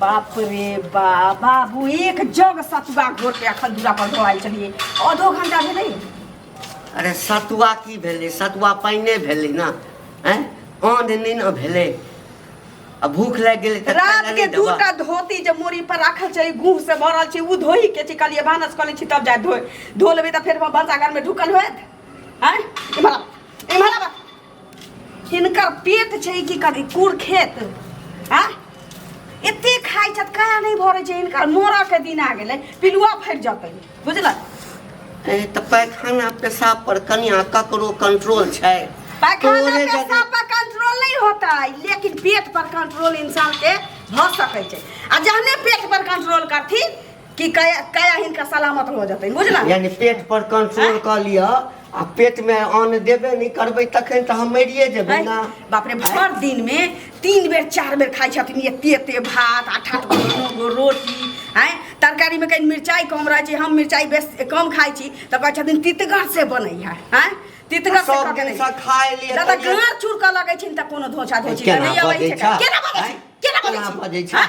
बाप रे बा बाबू एक जग सतुआ घोर के अखन दूरा पर धोआल चलिए आधो घंटा भेलै अरे सतुआ की भेलै सतुआ पानिए भेलै ने हैं आन नहि ने भेलै आ भूख लागि गेलै तऽ खाय रात लए के नहि दू देबह। टा धोती जे मोरी पर राखल छै गुह से भरल छै उ धोई के छै कहलिए भानस कऽ लै छी तब जाय धोए धो लेबै तऽ फेर भनसा घर में ढुकल होएत हैं इम्हर आबह, इम्हर आबह। इनकर पेट छै कि कथी कुर खेत आ एते खाइ छथि कहा नहि भरै छै इनकर मोरके दिन आ गेलै पिलुआ फटि जेतै बुझलक ए, तऽ पैखाना पेशाब पर कनिया ककरो कंट्रोल छै पैखाना तोरे जदि- पेशाब पर कंट्रोल नहीं होता है लेकिन पेट पर कंट्रोल इंसान के भ सकै छै आ जहने पेट पर कंट्रोल करथिन कि काया काया हिनका सलामत हो जेतै बुझल यानी पेट पर कंट्रोल क लिअ आ पेट में अन्न देबे नहीं करबे तखन तो हम मरिए जेबे ना बाप रे भर दिन में तीन बेर चार बेर खाइ छथिन एते एते भात आठ आठ गो नौ गो रोटी हैं तरकारी में कहीं मिरचाई कम रहे छै हम मिरचाई बेस कम खाइ छी तऽ कहै छथिन तितगर से बनै है हैं तितगर से सब करके दिन नहीं से खाय लिए दादा तैयो- गाँर चूर कऽ लगै छै तऽ कोनो धोछा धोछी केना तऽ नहि अबै बजै छै छह? केना बजै छै हैं? केना बजै केना छै बजै छह? हैं?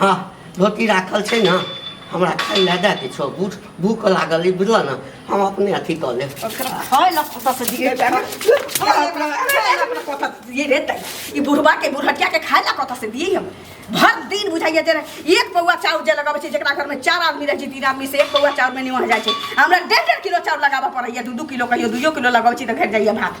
हँ धोती राखल छै ने हमरा खाइ लए दए किछो भूख भूख लागल ई बुझलऽ ने हम अपने अथी कऽ लेब खाय लए कतऽ से दिए जाना कतऽ दिए रे तै ई बुढ़बा के बुढ़टिया के खाय लए कतऽ से दिए हम भर दिन बुझाइए जे एक पौआ चाउर जे लगाबै छै जेकरा घरमे चार आदमी रहै छै तीन आदमी से एक पौआ चाउरमे निमह जाइ छै हमरा डेढ़ डेढ़ किलो चाउर लगाबऽ पड़ैए दू दू किलो कहियो दुइयो किलो लगाबै छी तऽ घटि जाइए भात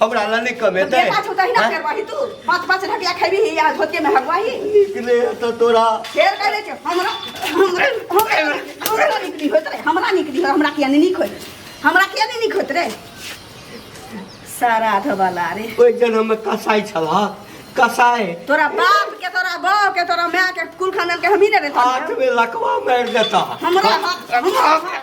हमरा ला नहीं कमे दे बेटा छुटा ही ना करवाही तू पांच पांच ढकिया खेबी ही आज होके में हगवाही निकले तो तोरा फेर कहले छ हमरा हमरा हमरा हमरा निकली होत रे हमरा निकली हो हमरा किया नहीं निक होय हमरा किया नहीं निक होत रे सारा धवाला रे ओइ जन हम कसाई छला कसाई तोरा बाप के तोरा बाप के तोरा माय के कुल खानदान के हम ही ने रे हाथ में लकवा मार देता हमरा हाथ हमरा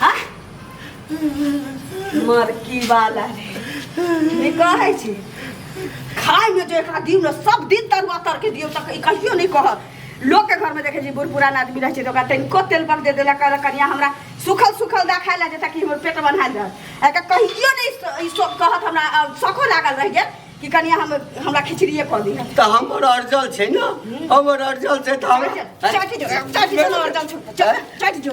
हाँ? मरकी वाला रे ई कहै छी खाय में जो एकरा दियो ना सब दिन तरुआ तर के दियो तक ई कहियो नहीं कह लोग के घर में देखे जी बूढ़ पुरान आदमी रहे छै तो ओकरा तनिको तेल पर दे देला कहला कनिया हमरा सुखल सुखल दा खाय ला जे ताकि हमर पेट बन्हाल रह एका कहियो नहीं ई सब कहत हमरा अ, सखो लागल रह गेल कि कनिया हम हमरा खिचड़िए कह दी त हमर अर्जल छै न हमर अर्जल छै त हम चाटी जो चाटी जो और चल चल चाटी जो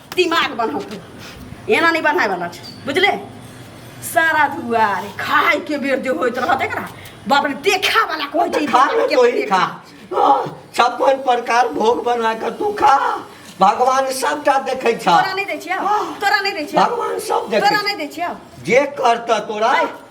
दिमाग बनाउ तू एना नहि बनाय वाला छै बुझले सारा दुआरे खाय के बेर जे होइत रहत एकरा बाप रे देखा वाला कहै छै ई खा बाप के तो ही देखा। खा हाँ, छप्पन प्रकार भोग बना कर तू खा भगवान सबटा देखे छा तोरा नहि दै छियौ तोरा नहि दै छियौ भगवान सब तोरा देखे नहि दै छियौ जे करता तोरा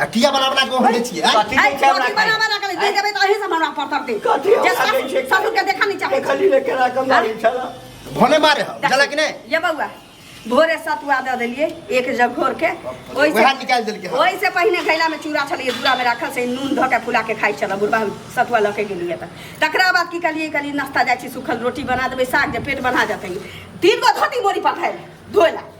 आ किया बना बना के होले छिए आय? कथी आई के कथी बना बना बना के ले देबे त अही से हमरा पर तर दे कथी जे हमरा दै छै? ससुर ससुर के देखा नहीं चाहे खाली ले केरा के मारी छला भने मारे हो जला कि नहीं ये बउआ भोरे सतुआ दे देलिए एक जग घोर के ओहि से- वएह निकाल देलके हँ। ओहि से पहिने घैला में चूड़ा छलिए दूरा में राखल से नून धऽ के फुला के खाइ छल बुढ़बा सतुआ लऽ के गेलिए तऽ तकरा बाद की कहलिए कहलिए नाश्ता जाइ छी सुखल रोटी बना देबै साग जे पेट बना जेतै तीन गो धोती मोरी पठायल धोय ला